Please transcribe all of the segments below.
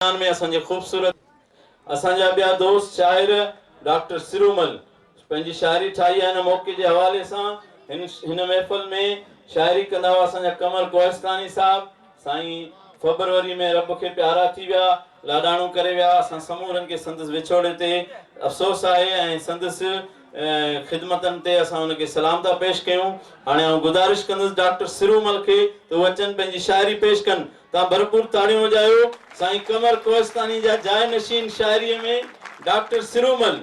بيان ۾ اسان جي خوبصورت اسان جا ٻيا دوست شاعر ڊاڪٽر سرومل پنهنجي شاعري ٺاهي آهي ان موقعي جي حوالي سان هن هن محفل ۾ شاعري ڪندا هئا اسان جا قمر ڪوهستاني صاحب سائين فبروري ۾ رب کي پيارا ٿي ويا لاڏاڻو ڪري ويا اسان سمورن کي سندس وڇوڙي تي افسوس آهي ۽ سندس خدمتن تي اسان ان کي سلام ٿا پيش ڪيون هاڻي آئون گذارش ڪندس ڊاڪٽر سرومل کي ته هو اچن پنهنجي شاعري پيش ڪن تان ڀرپور تاڙيون وڄايو. سائين قمر ڪوهستاني جا جاء نشين شاعريء ۾ ڊاڪٽر سرومل.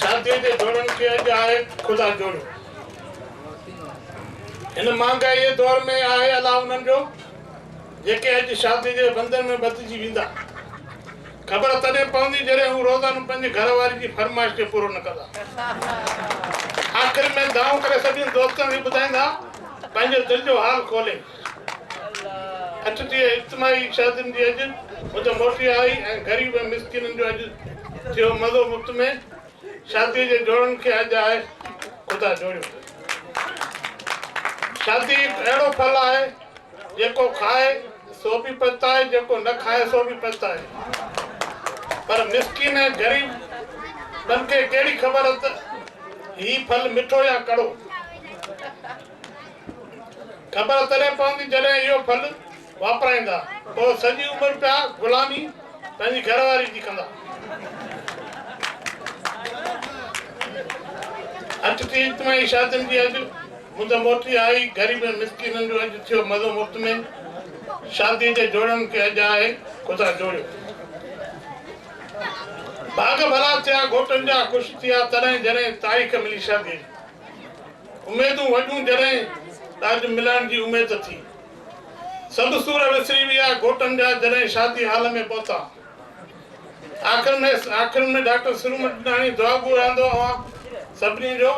شاديء جي جوڙن کي اڄ آهي خدا جوڙيو. هن مهانگائيء جي دور ۾ آهي الله انهن جو، جيڪي اڄ شاديء جي بندن ۾ ٻڌجي ويندا. خبر تڏهن پوندي جڏهن هو روزانو پنهنجي گهر واري جي فرمائش کي پورو نه ڪندا. آخر ۾ دانهون ڪري سڀني دوستن کي ٻڌائيندا پنهنجو دل جو حال کولي. اچ ٿئي اجتماعي شادين جي اڄ مد موٽي آئي ۽ غريب ۽ مسڪينن جو اڄ ٿيو مزو مفت ۾ شادي جي جوڙن کي اڄ آء خدا جوڙيو اٿس شادي هڪ اهڙو ڦل آهي جيڪو کائي سو به پڇتائي جيڪو نه کائي سو به پڇتائي پر مسڪين ۽ غريب تن کي ڪهڙي خبر اٿ هي ڦل مٺو يا ڪڙو خبر تڏهن پوندي جڏهن اهو ڦل واپرائيندا. پوء سڄي عمر پيا غلامي پنهنجي گهر واري جي ڪندا. اچ ٿي اجتماعي شادين جي اڄ مد موٽي آئي. غريبن مسڪينن جو اڄ ٿيو مزو مفت ۾. شادي جي جوڙن کي اڄ آهي خدا جوڙيو. ڀاڳ ڀلا ٿيا گهوٽن جا خوش ٿيا تڏهن جڏهن تاريخ ملي شادي جي. اميدون وڏيون جڏهن ته اڄ ملڻ جي اميد ٿي. سڀ سور وسري ويا گهوٽن جا جڏهن شادي هال ۾ پهتا. آخر ۾ آخر ۾ ڊاڪٽر سرومٽناڻي دعا گو رهندو اوهان سڀني جو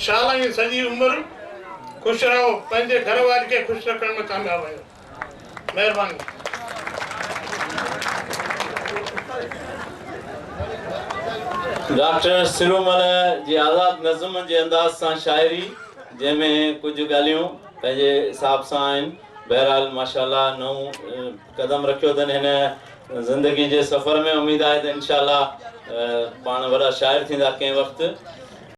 شال ائين سڄي عمر خوش رهو پنهنجي گهر واري کي خوش رکڻ ۾ ڪامياب آهيو. ڊاڪٽر سرومل جي آزاد نظم جي انداز سان شاعري جنهن ۾ ڪجهه ڳالهيون پنهنجي حساب سان آهن بهرحال ماشاء الله نئون قدم رکيو اٿن هن زندگي جي سفر ۾ اميد آهي ته انشاء الله پاڻ وڏا شاعر ٿيندا ڪنهن وقت